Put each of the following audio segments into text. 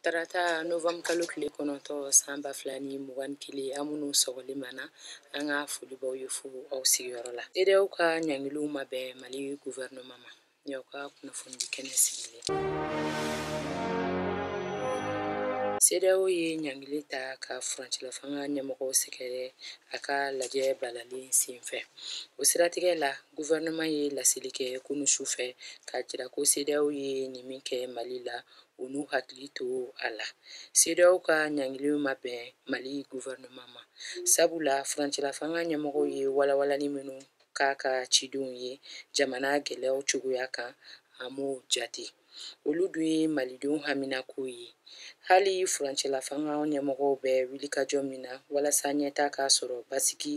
tarata novɛmbu kalo tile kɔnɔntɔ san ba fila ni mugan ni kelen an minnu sɔgɔli mana an ka foli b'aw ye fo aw sigiyɔrɔ la sedeyaw ka ɲangiliw ma bɛn mali guvɛrinɛma ma ɲaw ka kunnafonidi kɛnɛ sigilen sedeyaw ye ɲangili ta ka furancɛlafanga ɲɛmɔgɔw sɛgɛrɛ a ka lajɛ balalen senfɛ o siratigɛ la guvɛrɛnaman ye laseli kɛ kunu su fɛ k'a jira ko sedeyaw ye nin min kɛ mali la u n'u hakili to a la sedeyaw ka ɲangiliw ma bɛn mali guvɛrɛnaman ma sabula furancɛlafanga ɲɛmɔgɔw ye walawalani minnu k'a ka cidenw ye jamana gɛlɛyaw cogoya kan a m'o jate olu dun ye malidenw haminakow ye hali furancɛlafanga ɲɛmɔgɔw bɛ wulikajɔ min na walasa ɲɛtaa ka sɔrɔ basigi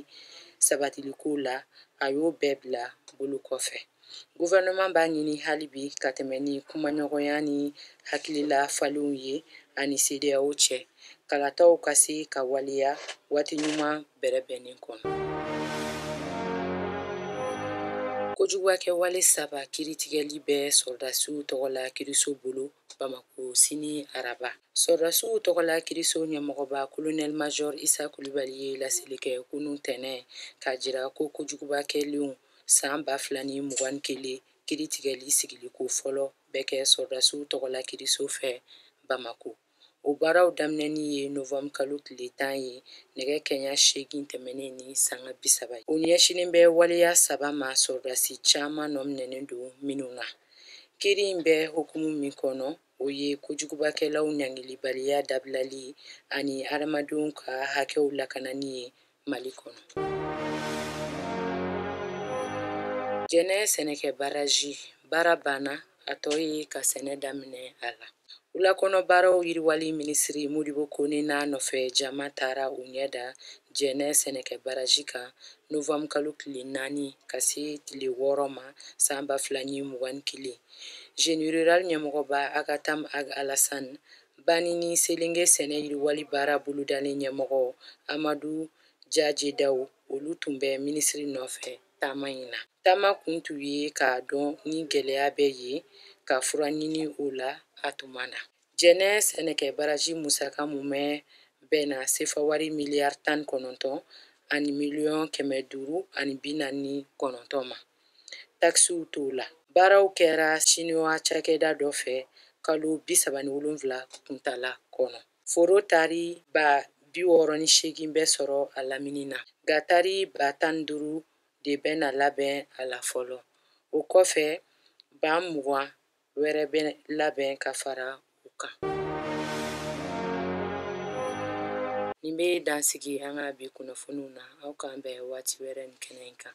sabatiliko la a y'o bɛɛ bila bolo kɔfɛ gouvernement b'a ɲini hali bi ka tɛmɛ ni kumaɲɔgɔnya ni hakilila falenw ye a ni CEDEAO cɛ kalataw ka se ka waleya waati ɲuman bɛrɛbɛnnen kɔnɔ kojugubakɛ wale saba kiritigɛli bɛ sɔrɔdasiw tɔgɔ la kiriso bolo bamako sini araba sɔrɔdasiw tɔgɔ la kiriso ɲɛmɔgɔba kolonɛl major isa kulibali ye laseli kɛ kunu tɛnɛn k'a jira ko kojuguba kɛlenw san ba fila ni mugan ni kelen kiritigɛli sigiliko fɔlɔ bɛ kɛ sɔrɔdasiw tɔgɔla kiriso fɛ bamako o baaraw daminɛni ye novanburu kalo tile tan ye nɛgɛ kɛɲɛ seegin tɛmɛnen ni sanga bi saba ye o ɲɛsinnen bɛ waleya saba ma sɔrɔdasi caman nɔ minɛnen don minnu na kiri in bɛ hukumu min kɔnɔ o ye kojugubakɛlaw ɲangilibaliya dabilali ani hadamadenw ka hakɛw lakanani ye mali kɔnɔ jɛnɛ sɛnɛkɛ baraji baara banna a tɔ ye ka sɛnɛ daminɛ a la wulakɔnɔ baaraw yiriwali minisiri modibo kone n'a nɔfɛ jama taara u ɲɛ da jɛnɛ sɛnɛkɛ baraji kan novanbu kalo tile naani ka se tile wɔɔrɔ ma san ba fila ni mugan ni kelen jeni rural ɲɛmɔgɔba agatam ag alasan Bani ni Selenge sɛnɛ yiriwali baara bolodalen ɲɛmɔgɔ Amadu Jaje Dawu, olu tun bɛ minisiri nɔfɛ taama in na. Taama kun tun ye k'a dɔn ni gɛlɛya bɛ yen ka fura ɲini o la a tuma na. Jɛnɛ sɛnɛkɛ baraji musaka mumɛ bɛnna sefawari miliyari tan ni kɔnɔntɔn ani miliyɔn kɛmɛ duuru ani bi naani ni kɔnɔntɔn ma. takisiw t'o la baaraw kɛra siniwa cakɛda dɔ fɛ kalo bi saba ni wolonfila kuntala kɔnɔ foro tari ba bi wɔɔrɔ ni seegin bɛ sɔrɔ a lamini na nka tari ba tan ni duuru de bɛna labɛn a la fɔlɔ o kɔfɛ ba mugan wɛrɛ bɛ labɛn ka fara u kan nin bɛ dansigi an ka bi kunnafoniw na aw k'an bɛn waati wɛrɛ nin kɛnɛ in kan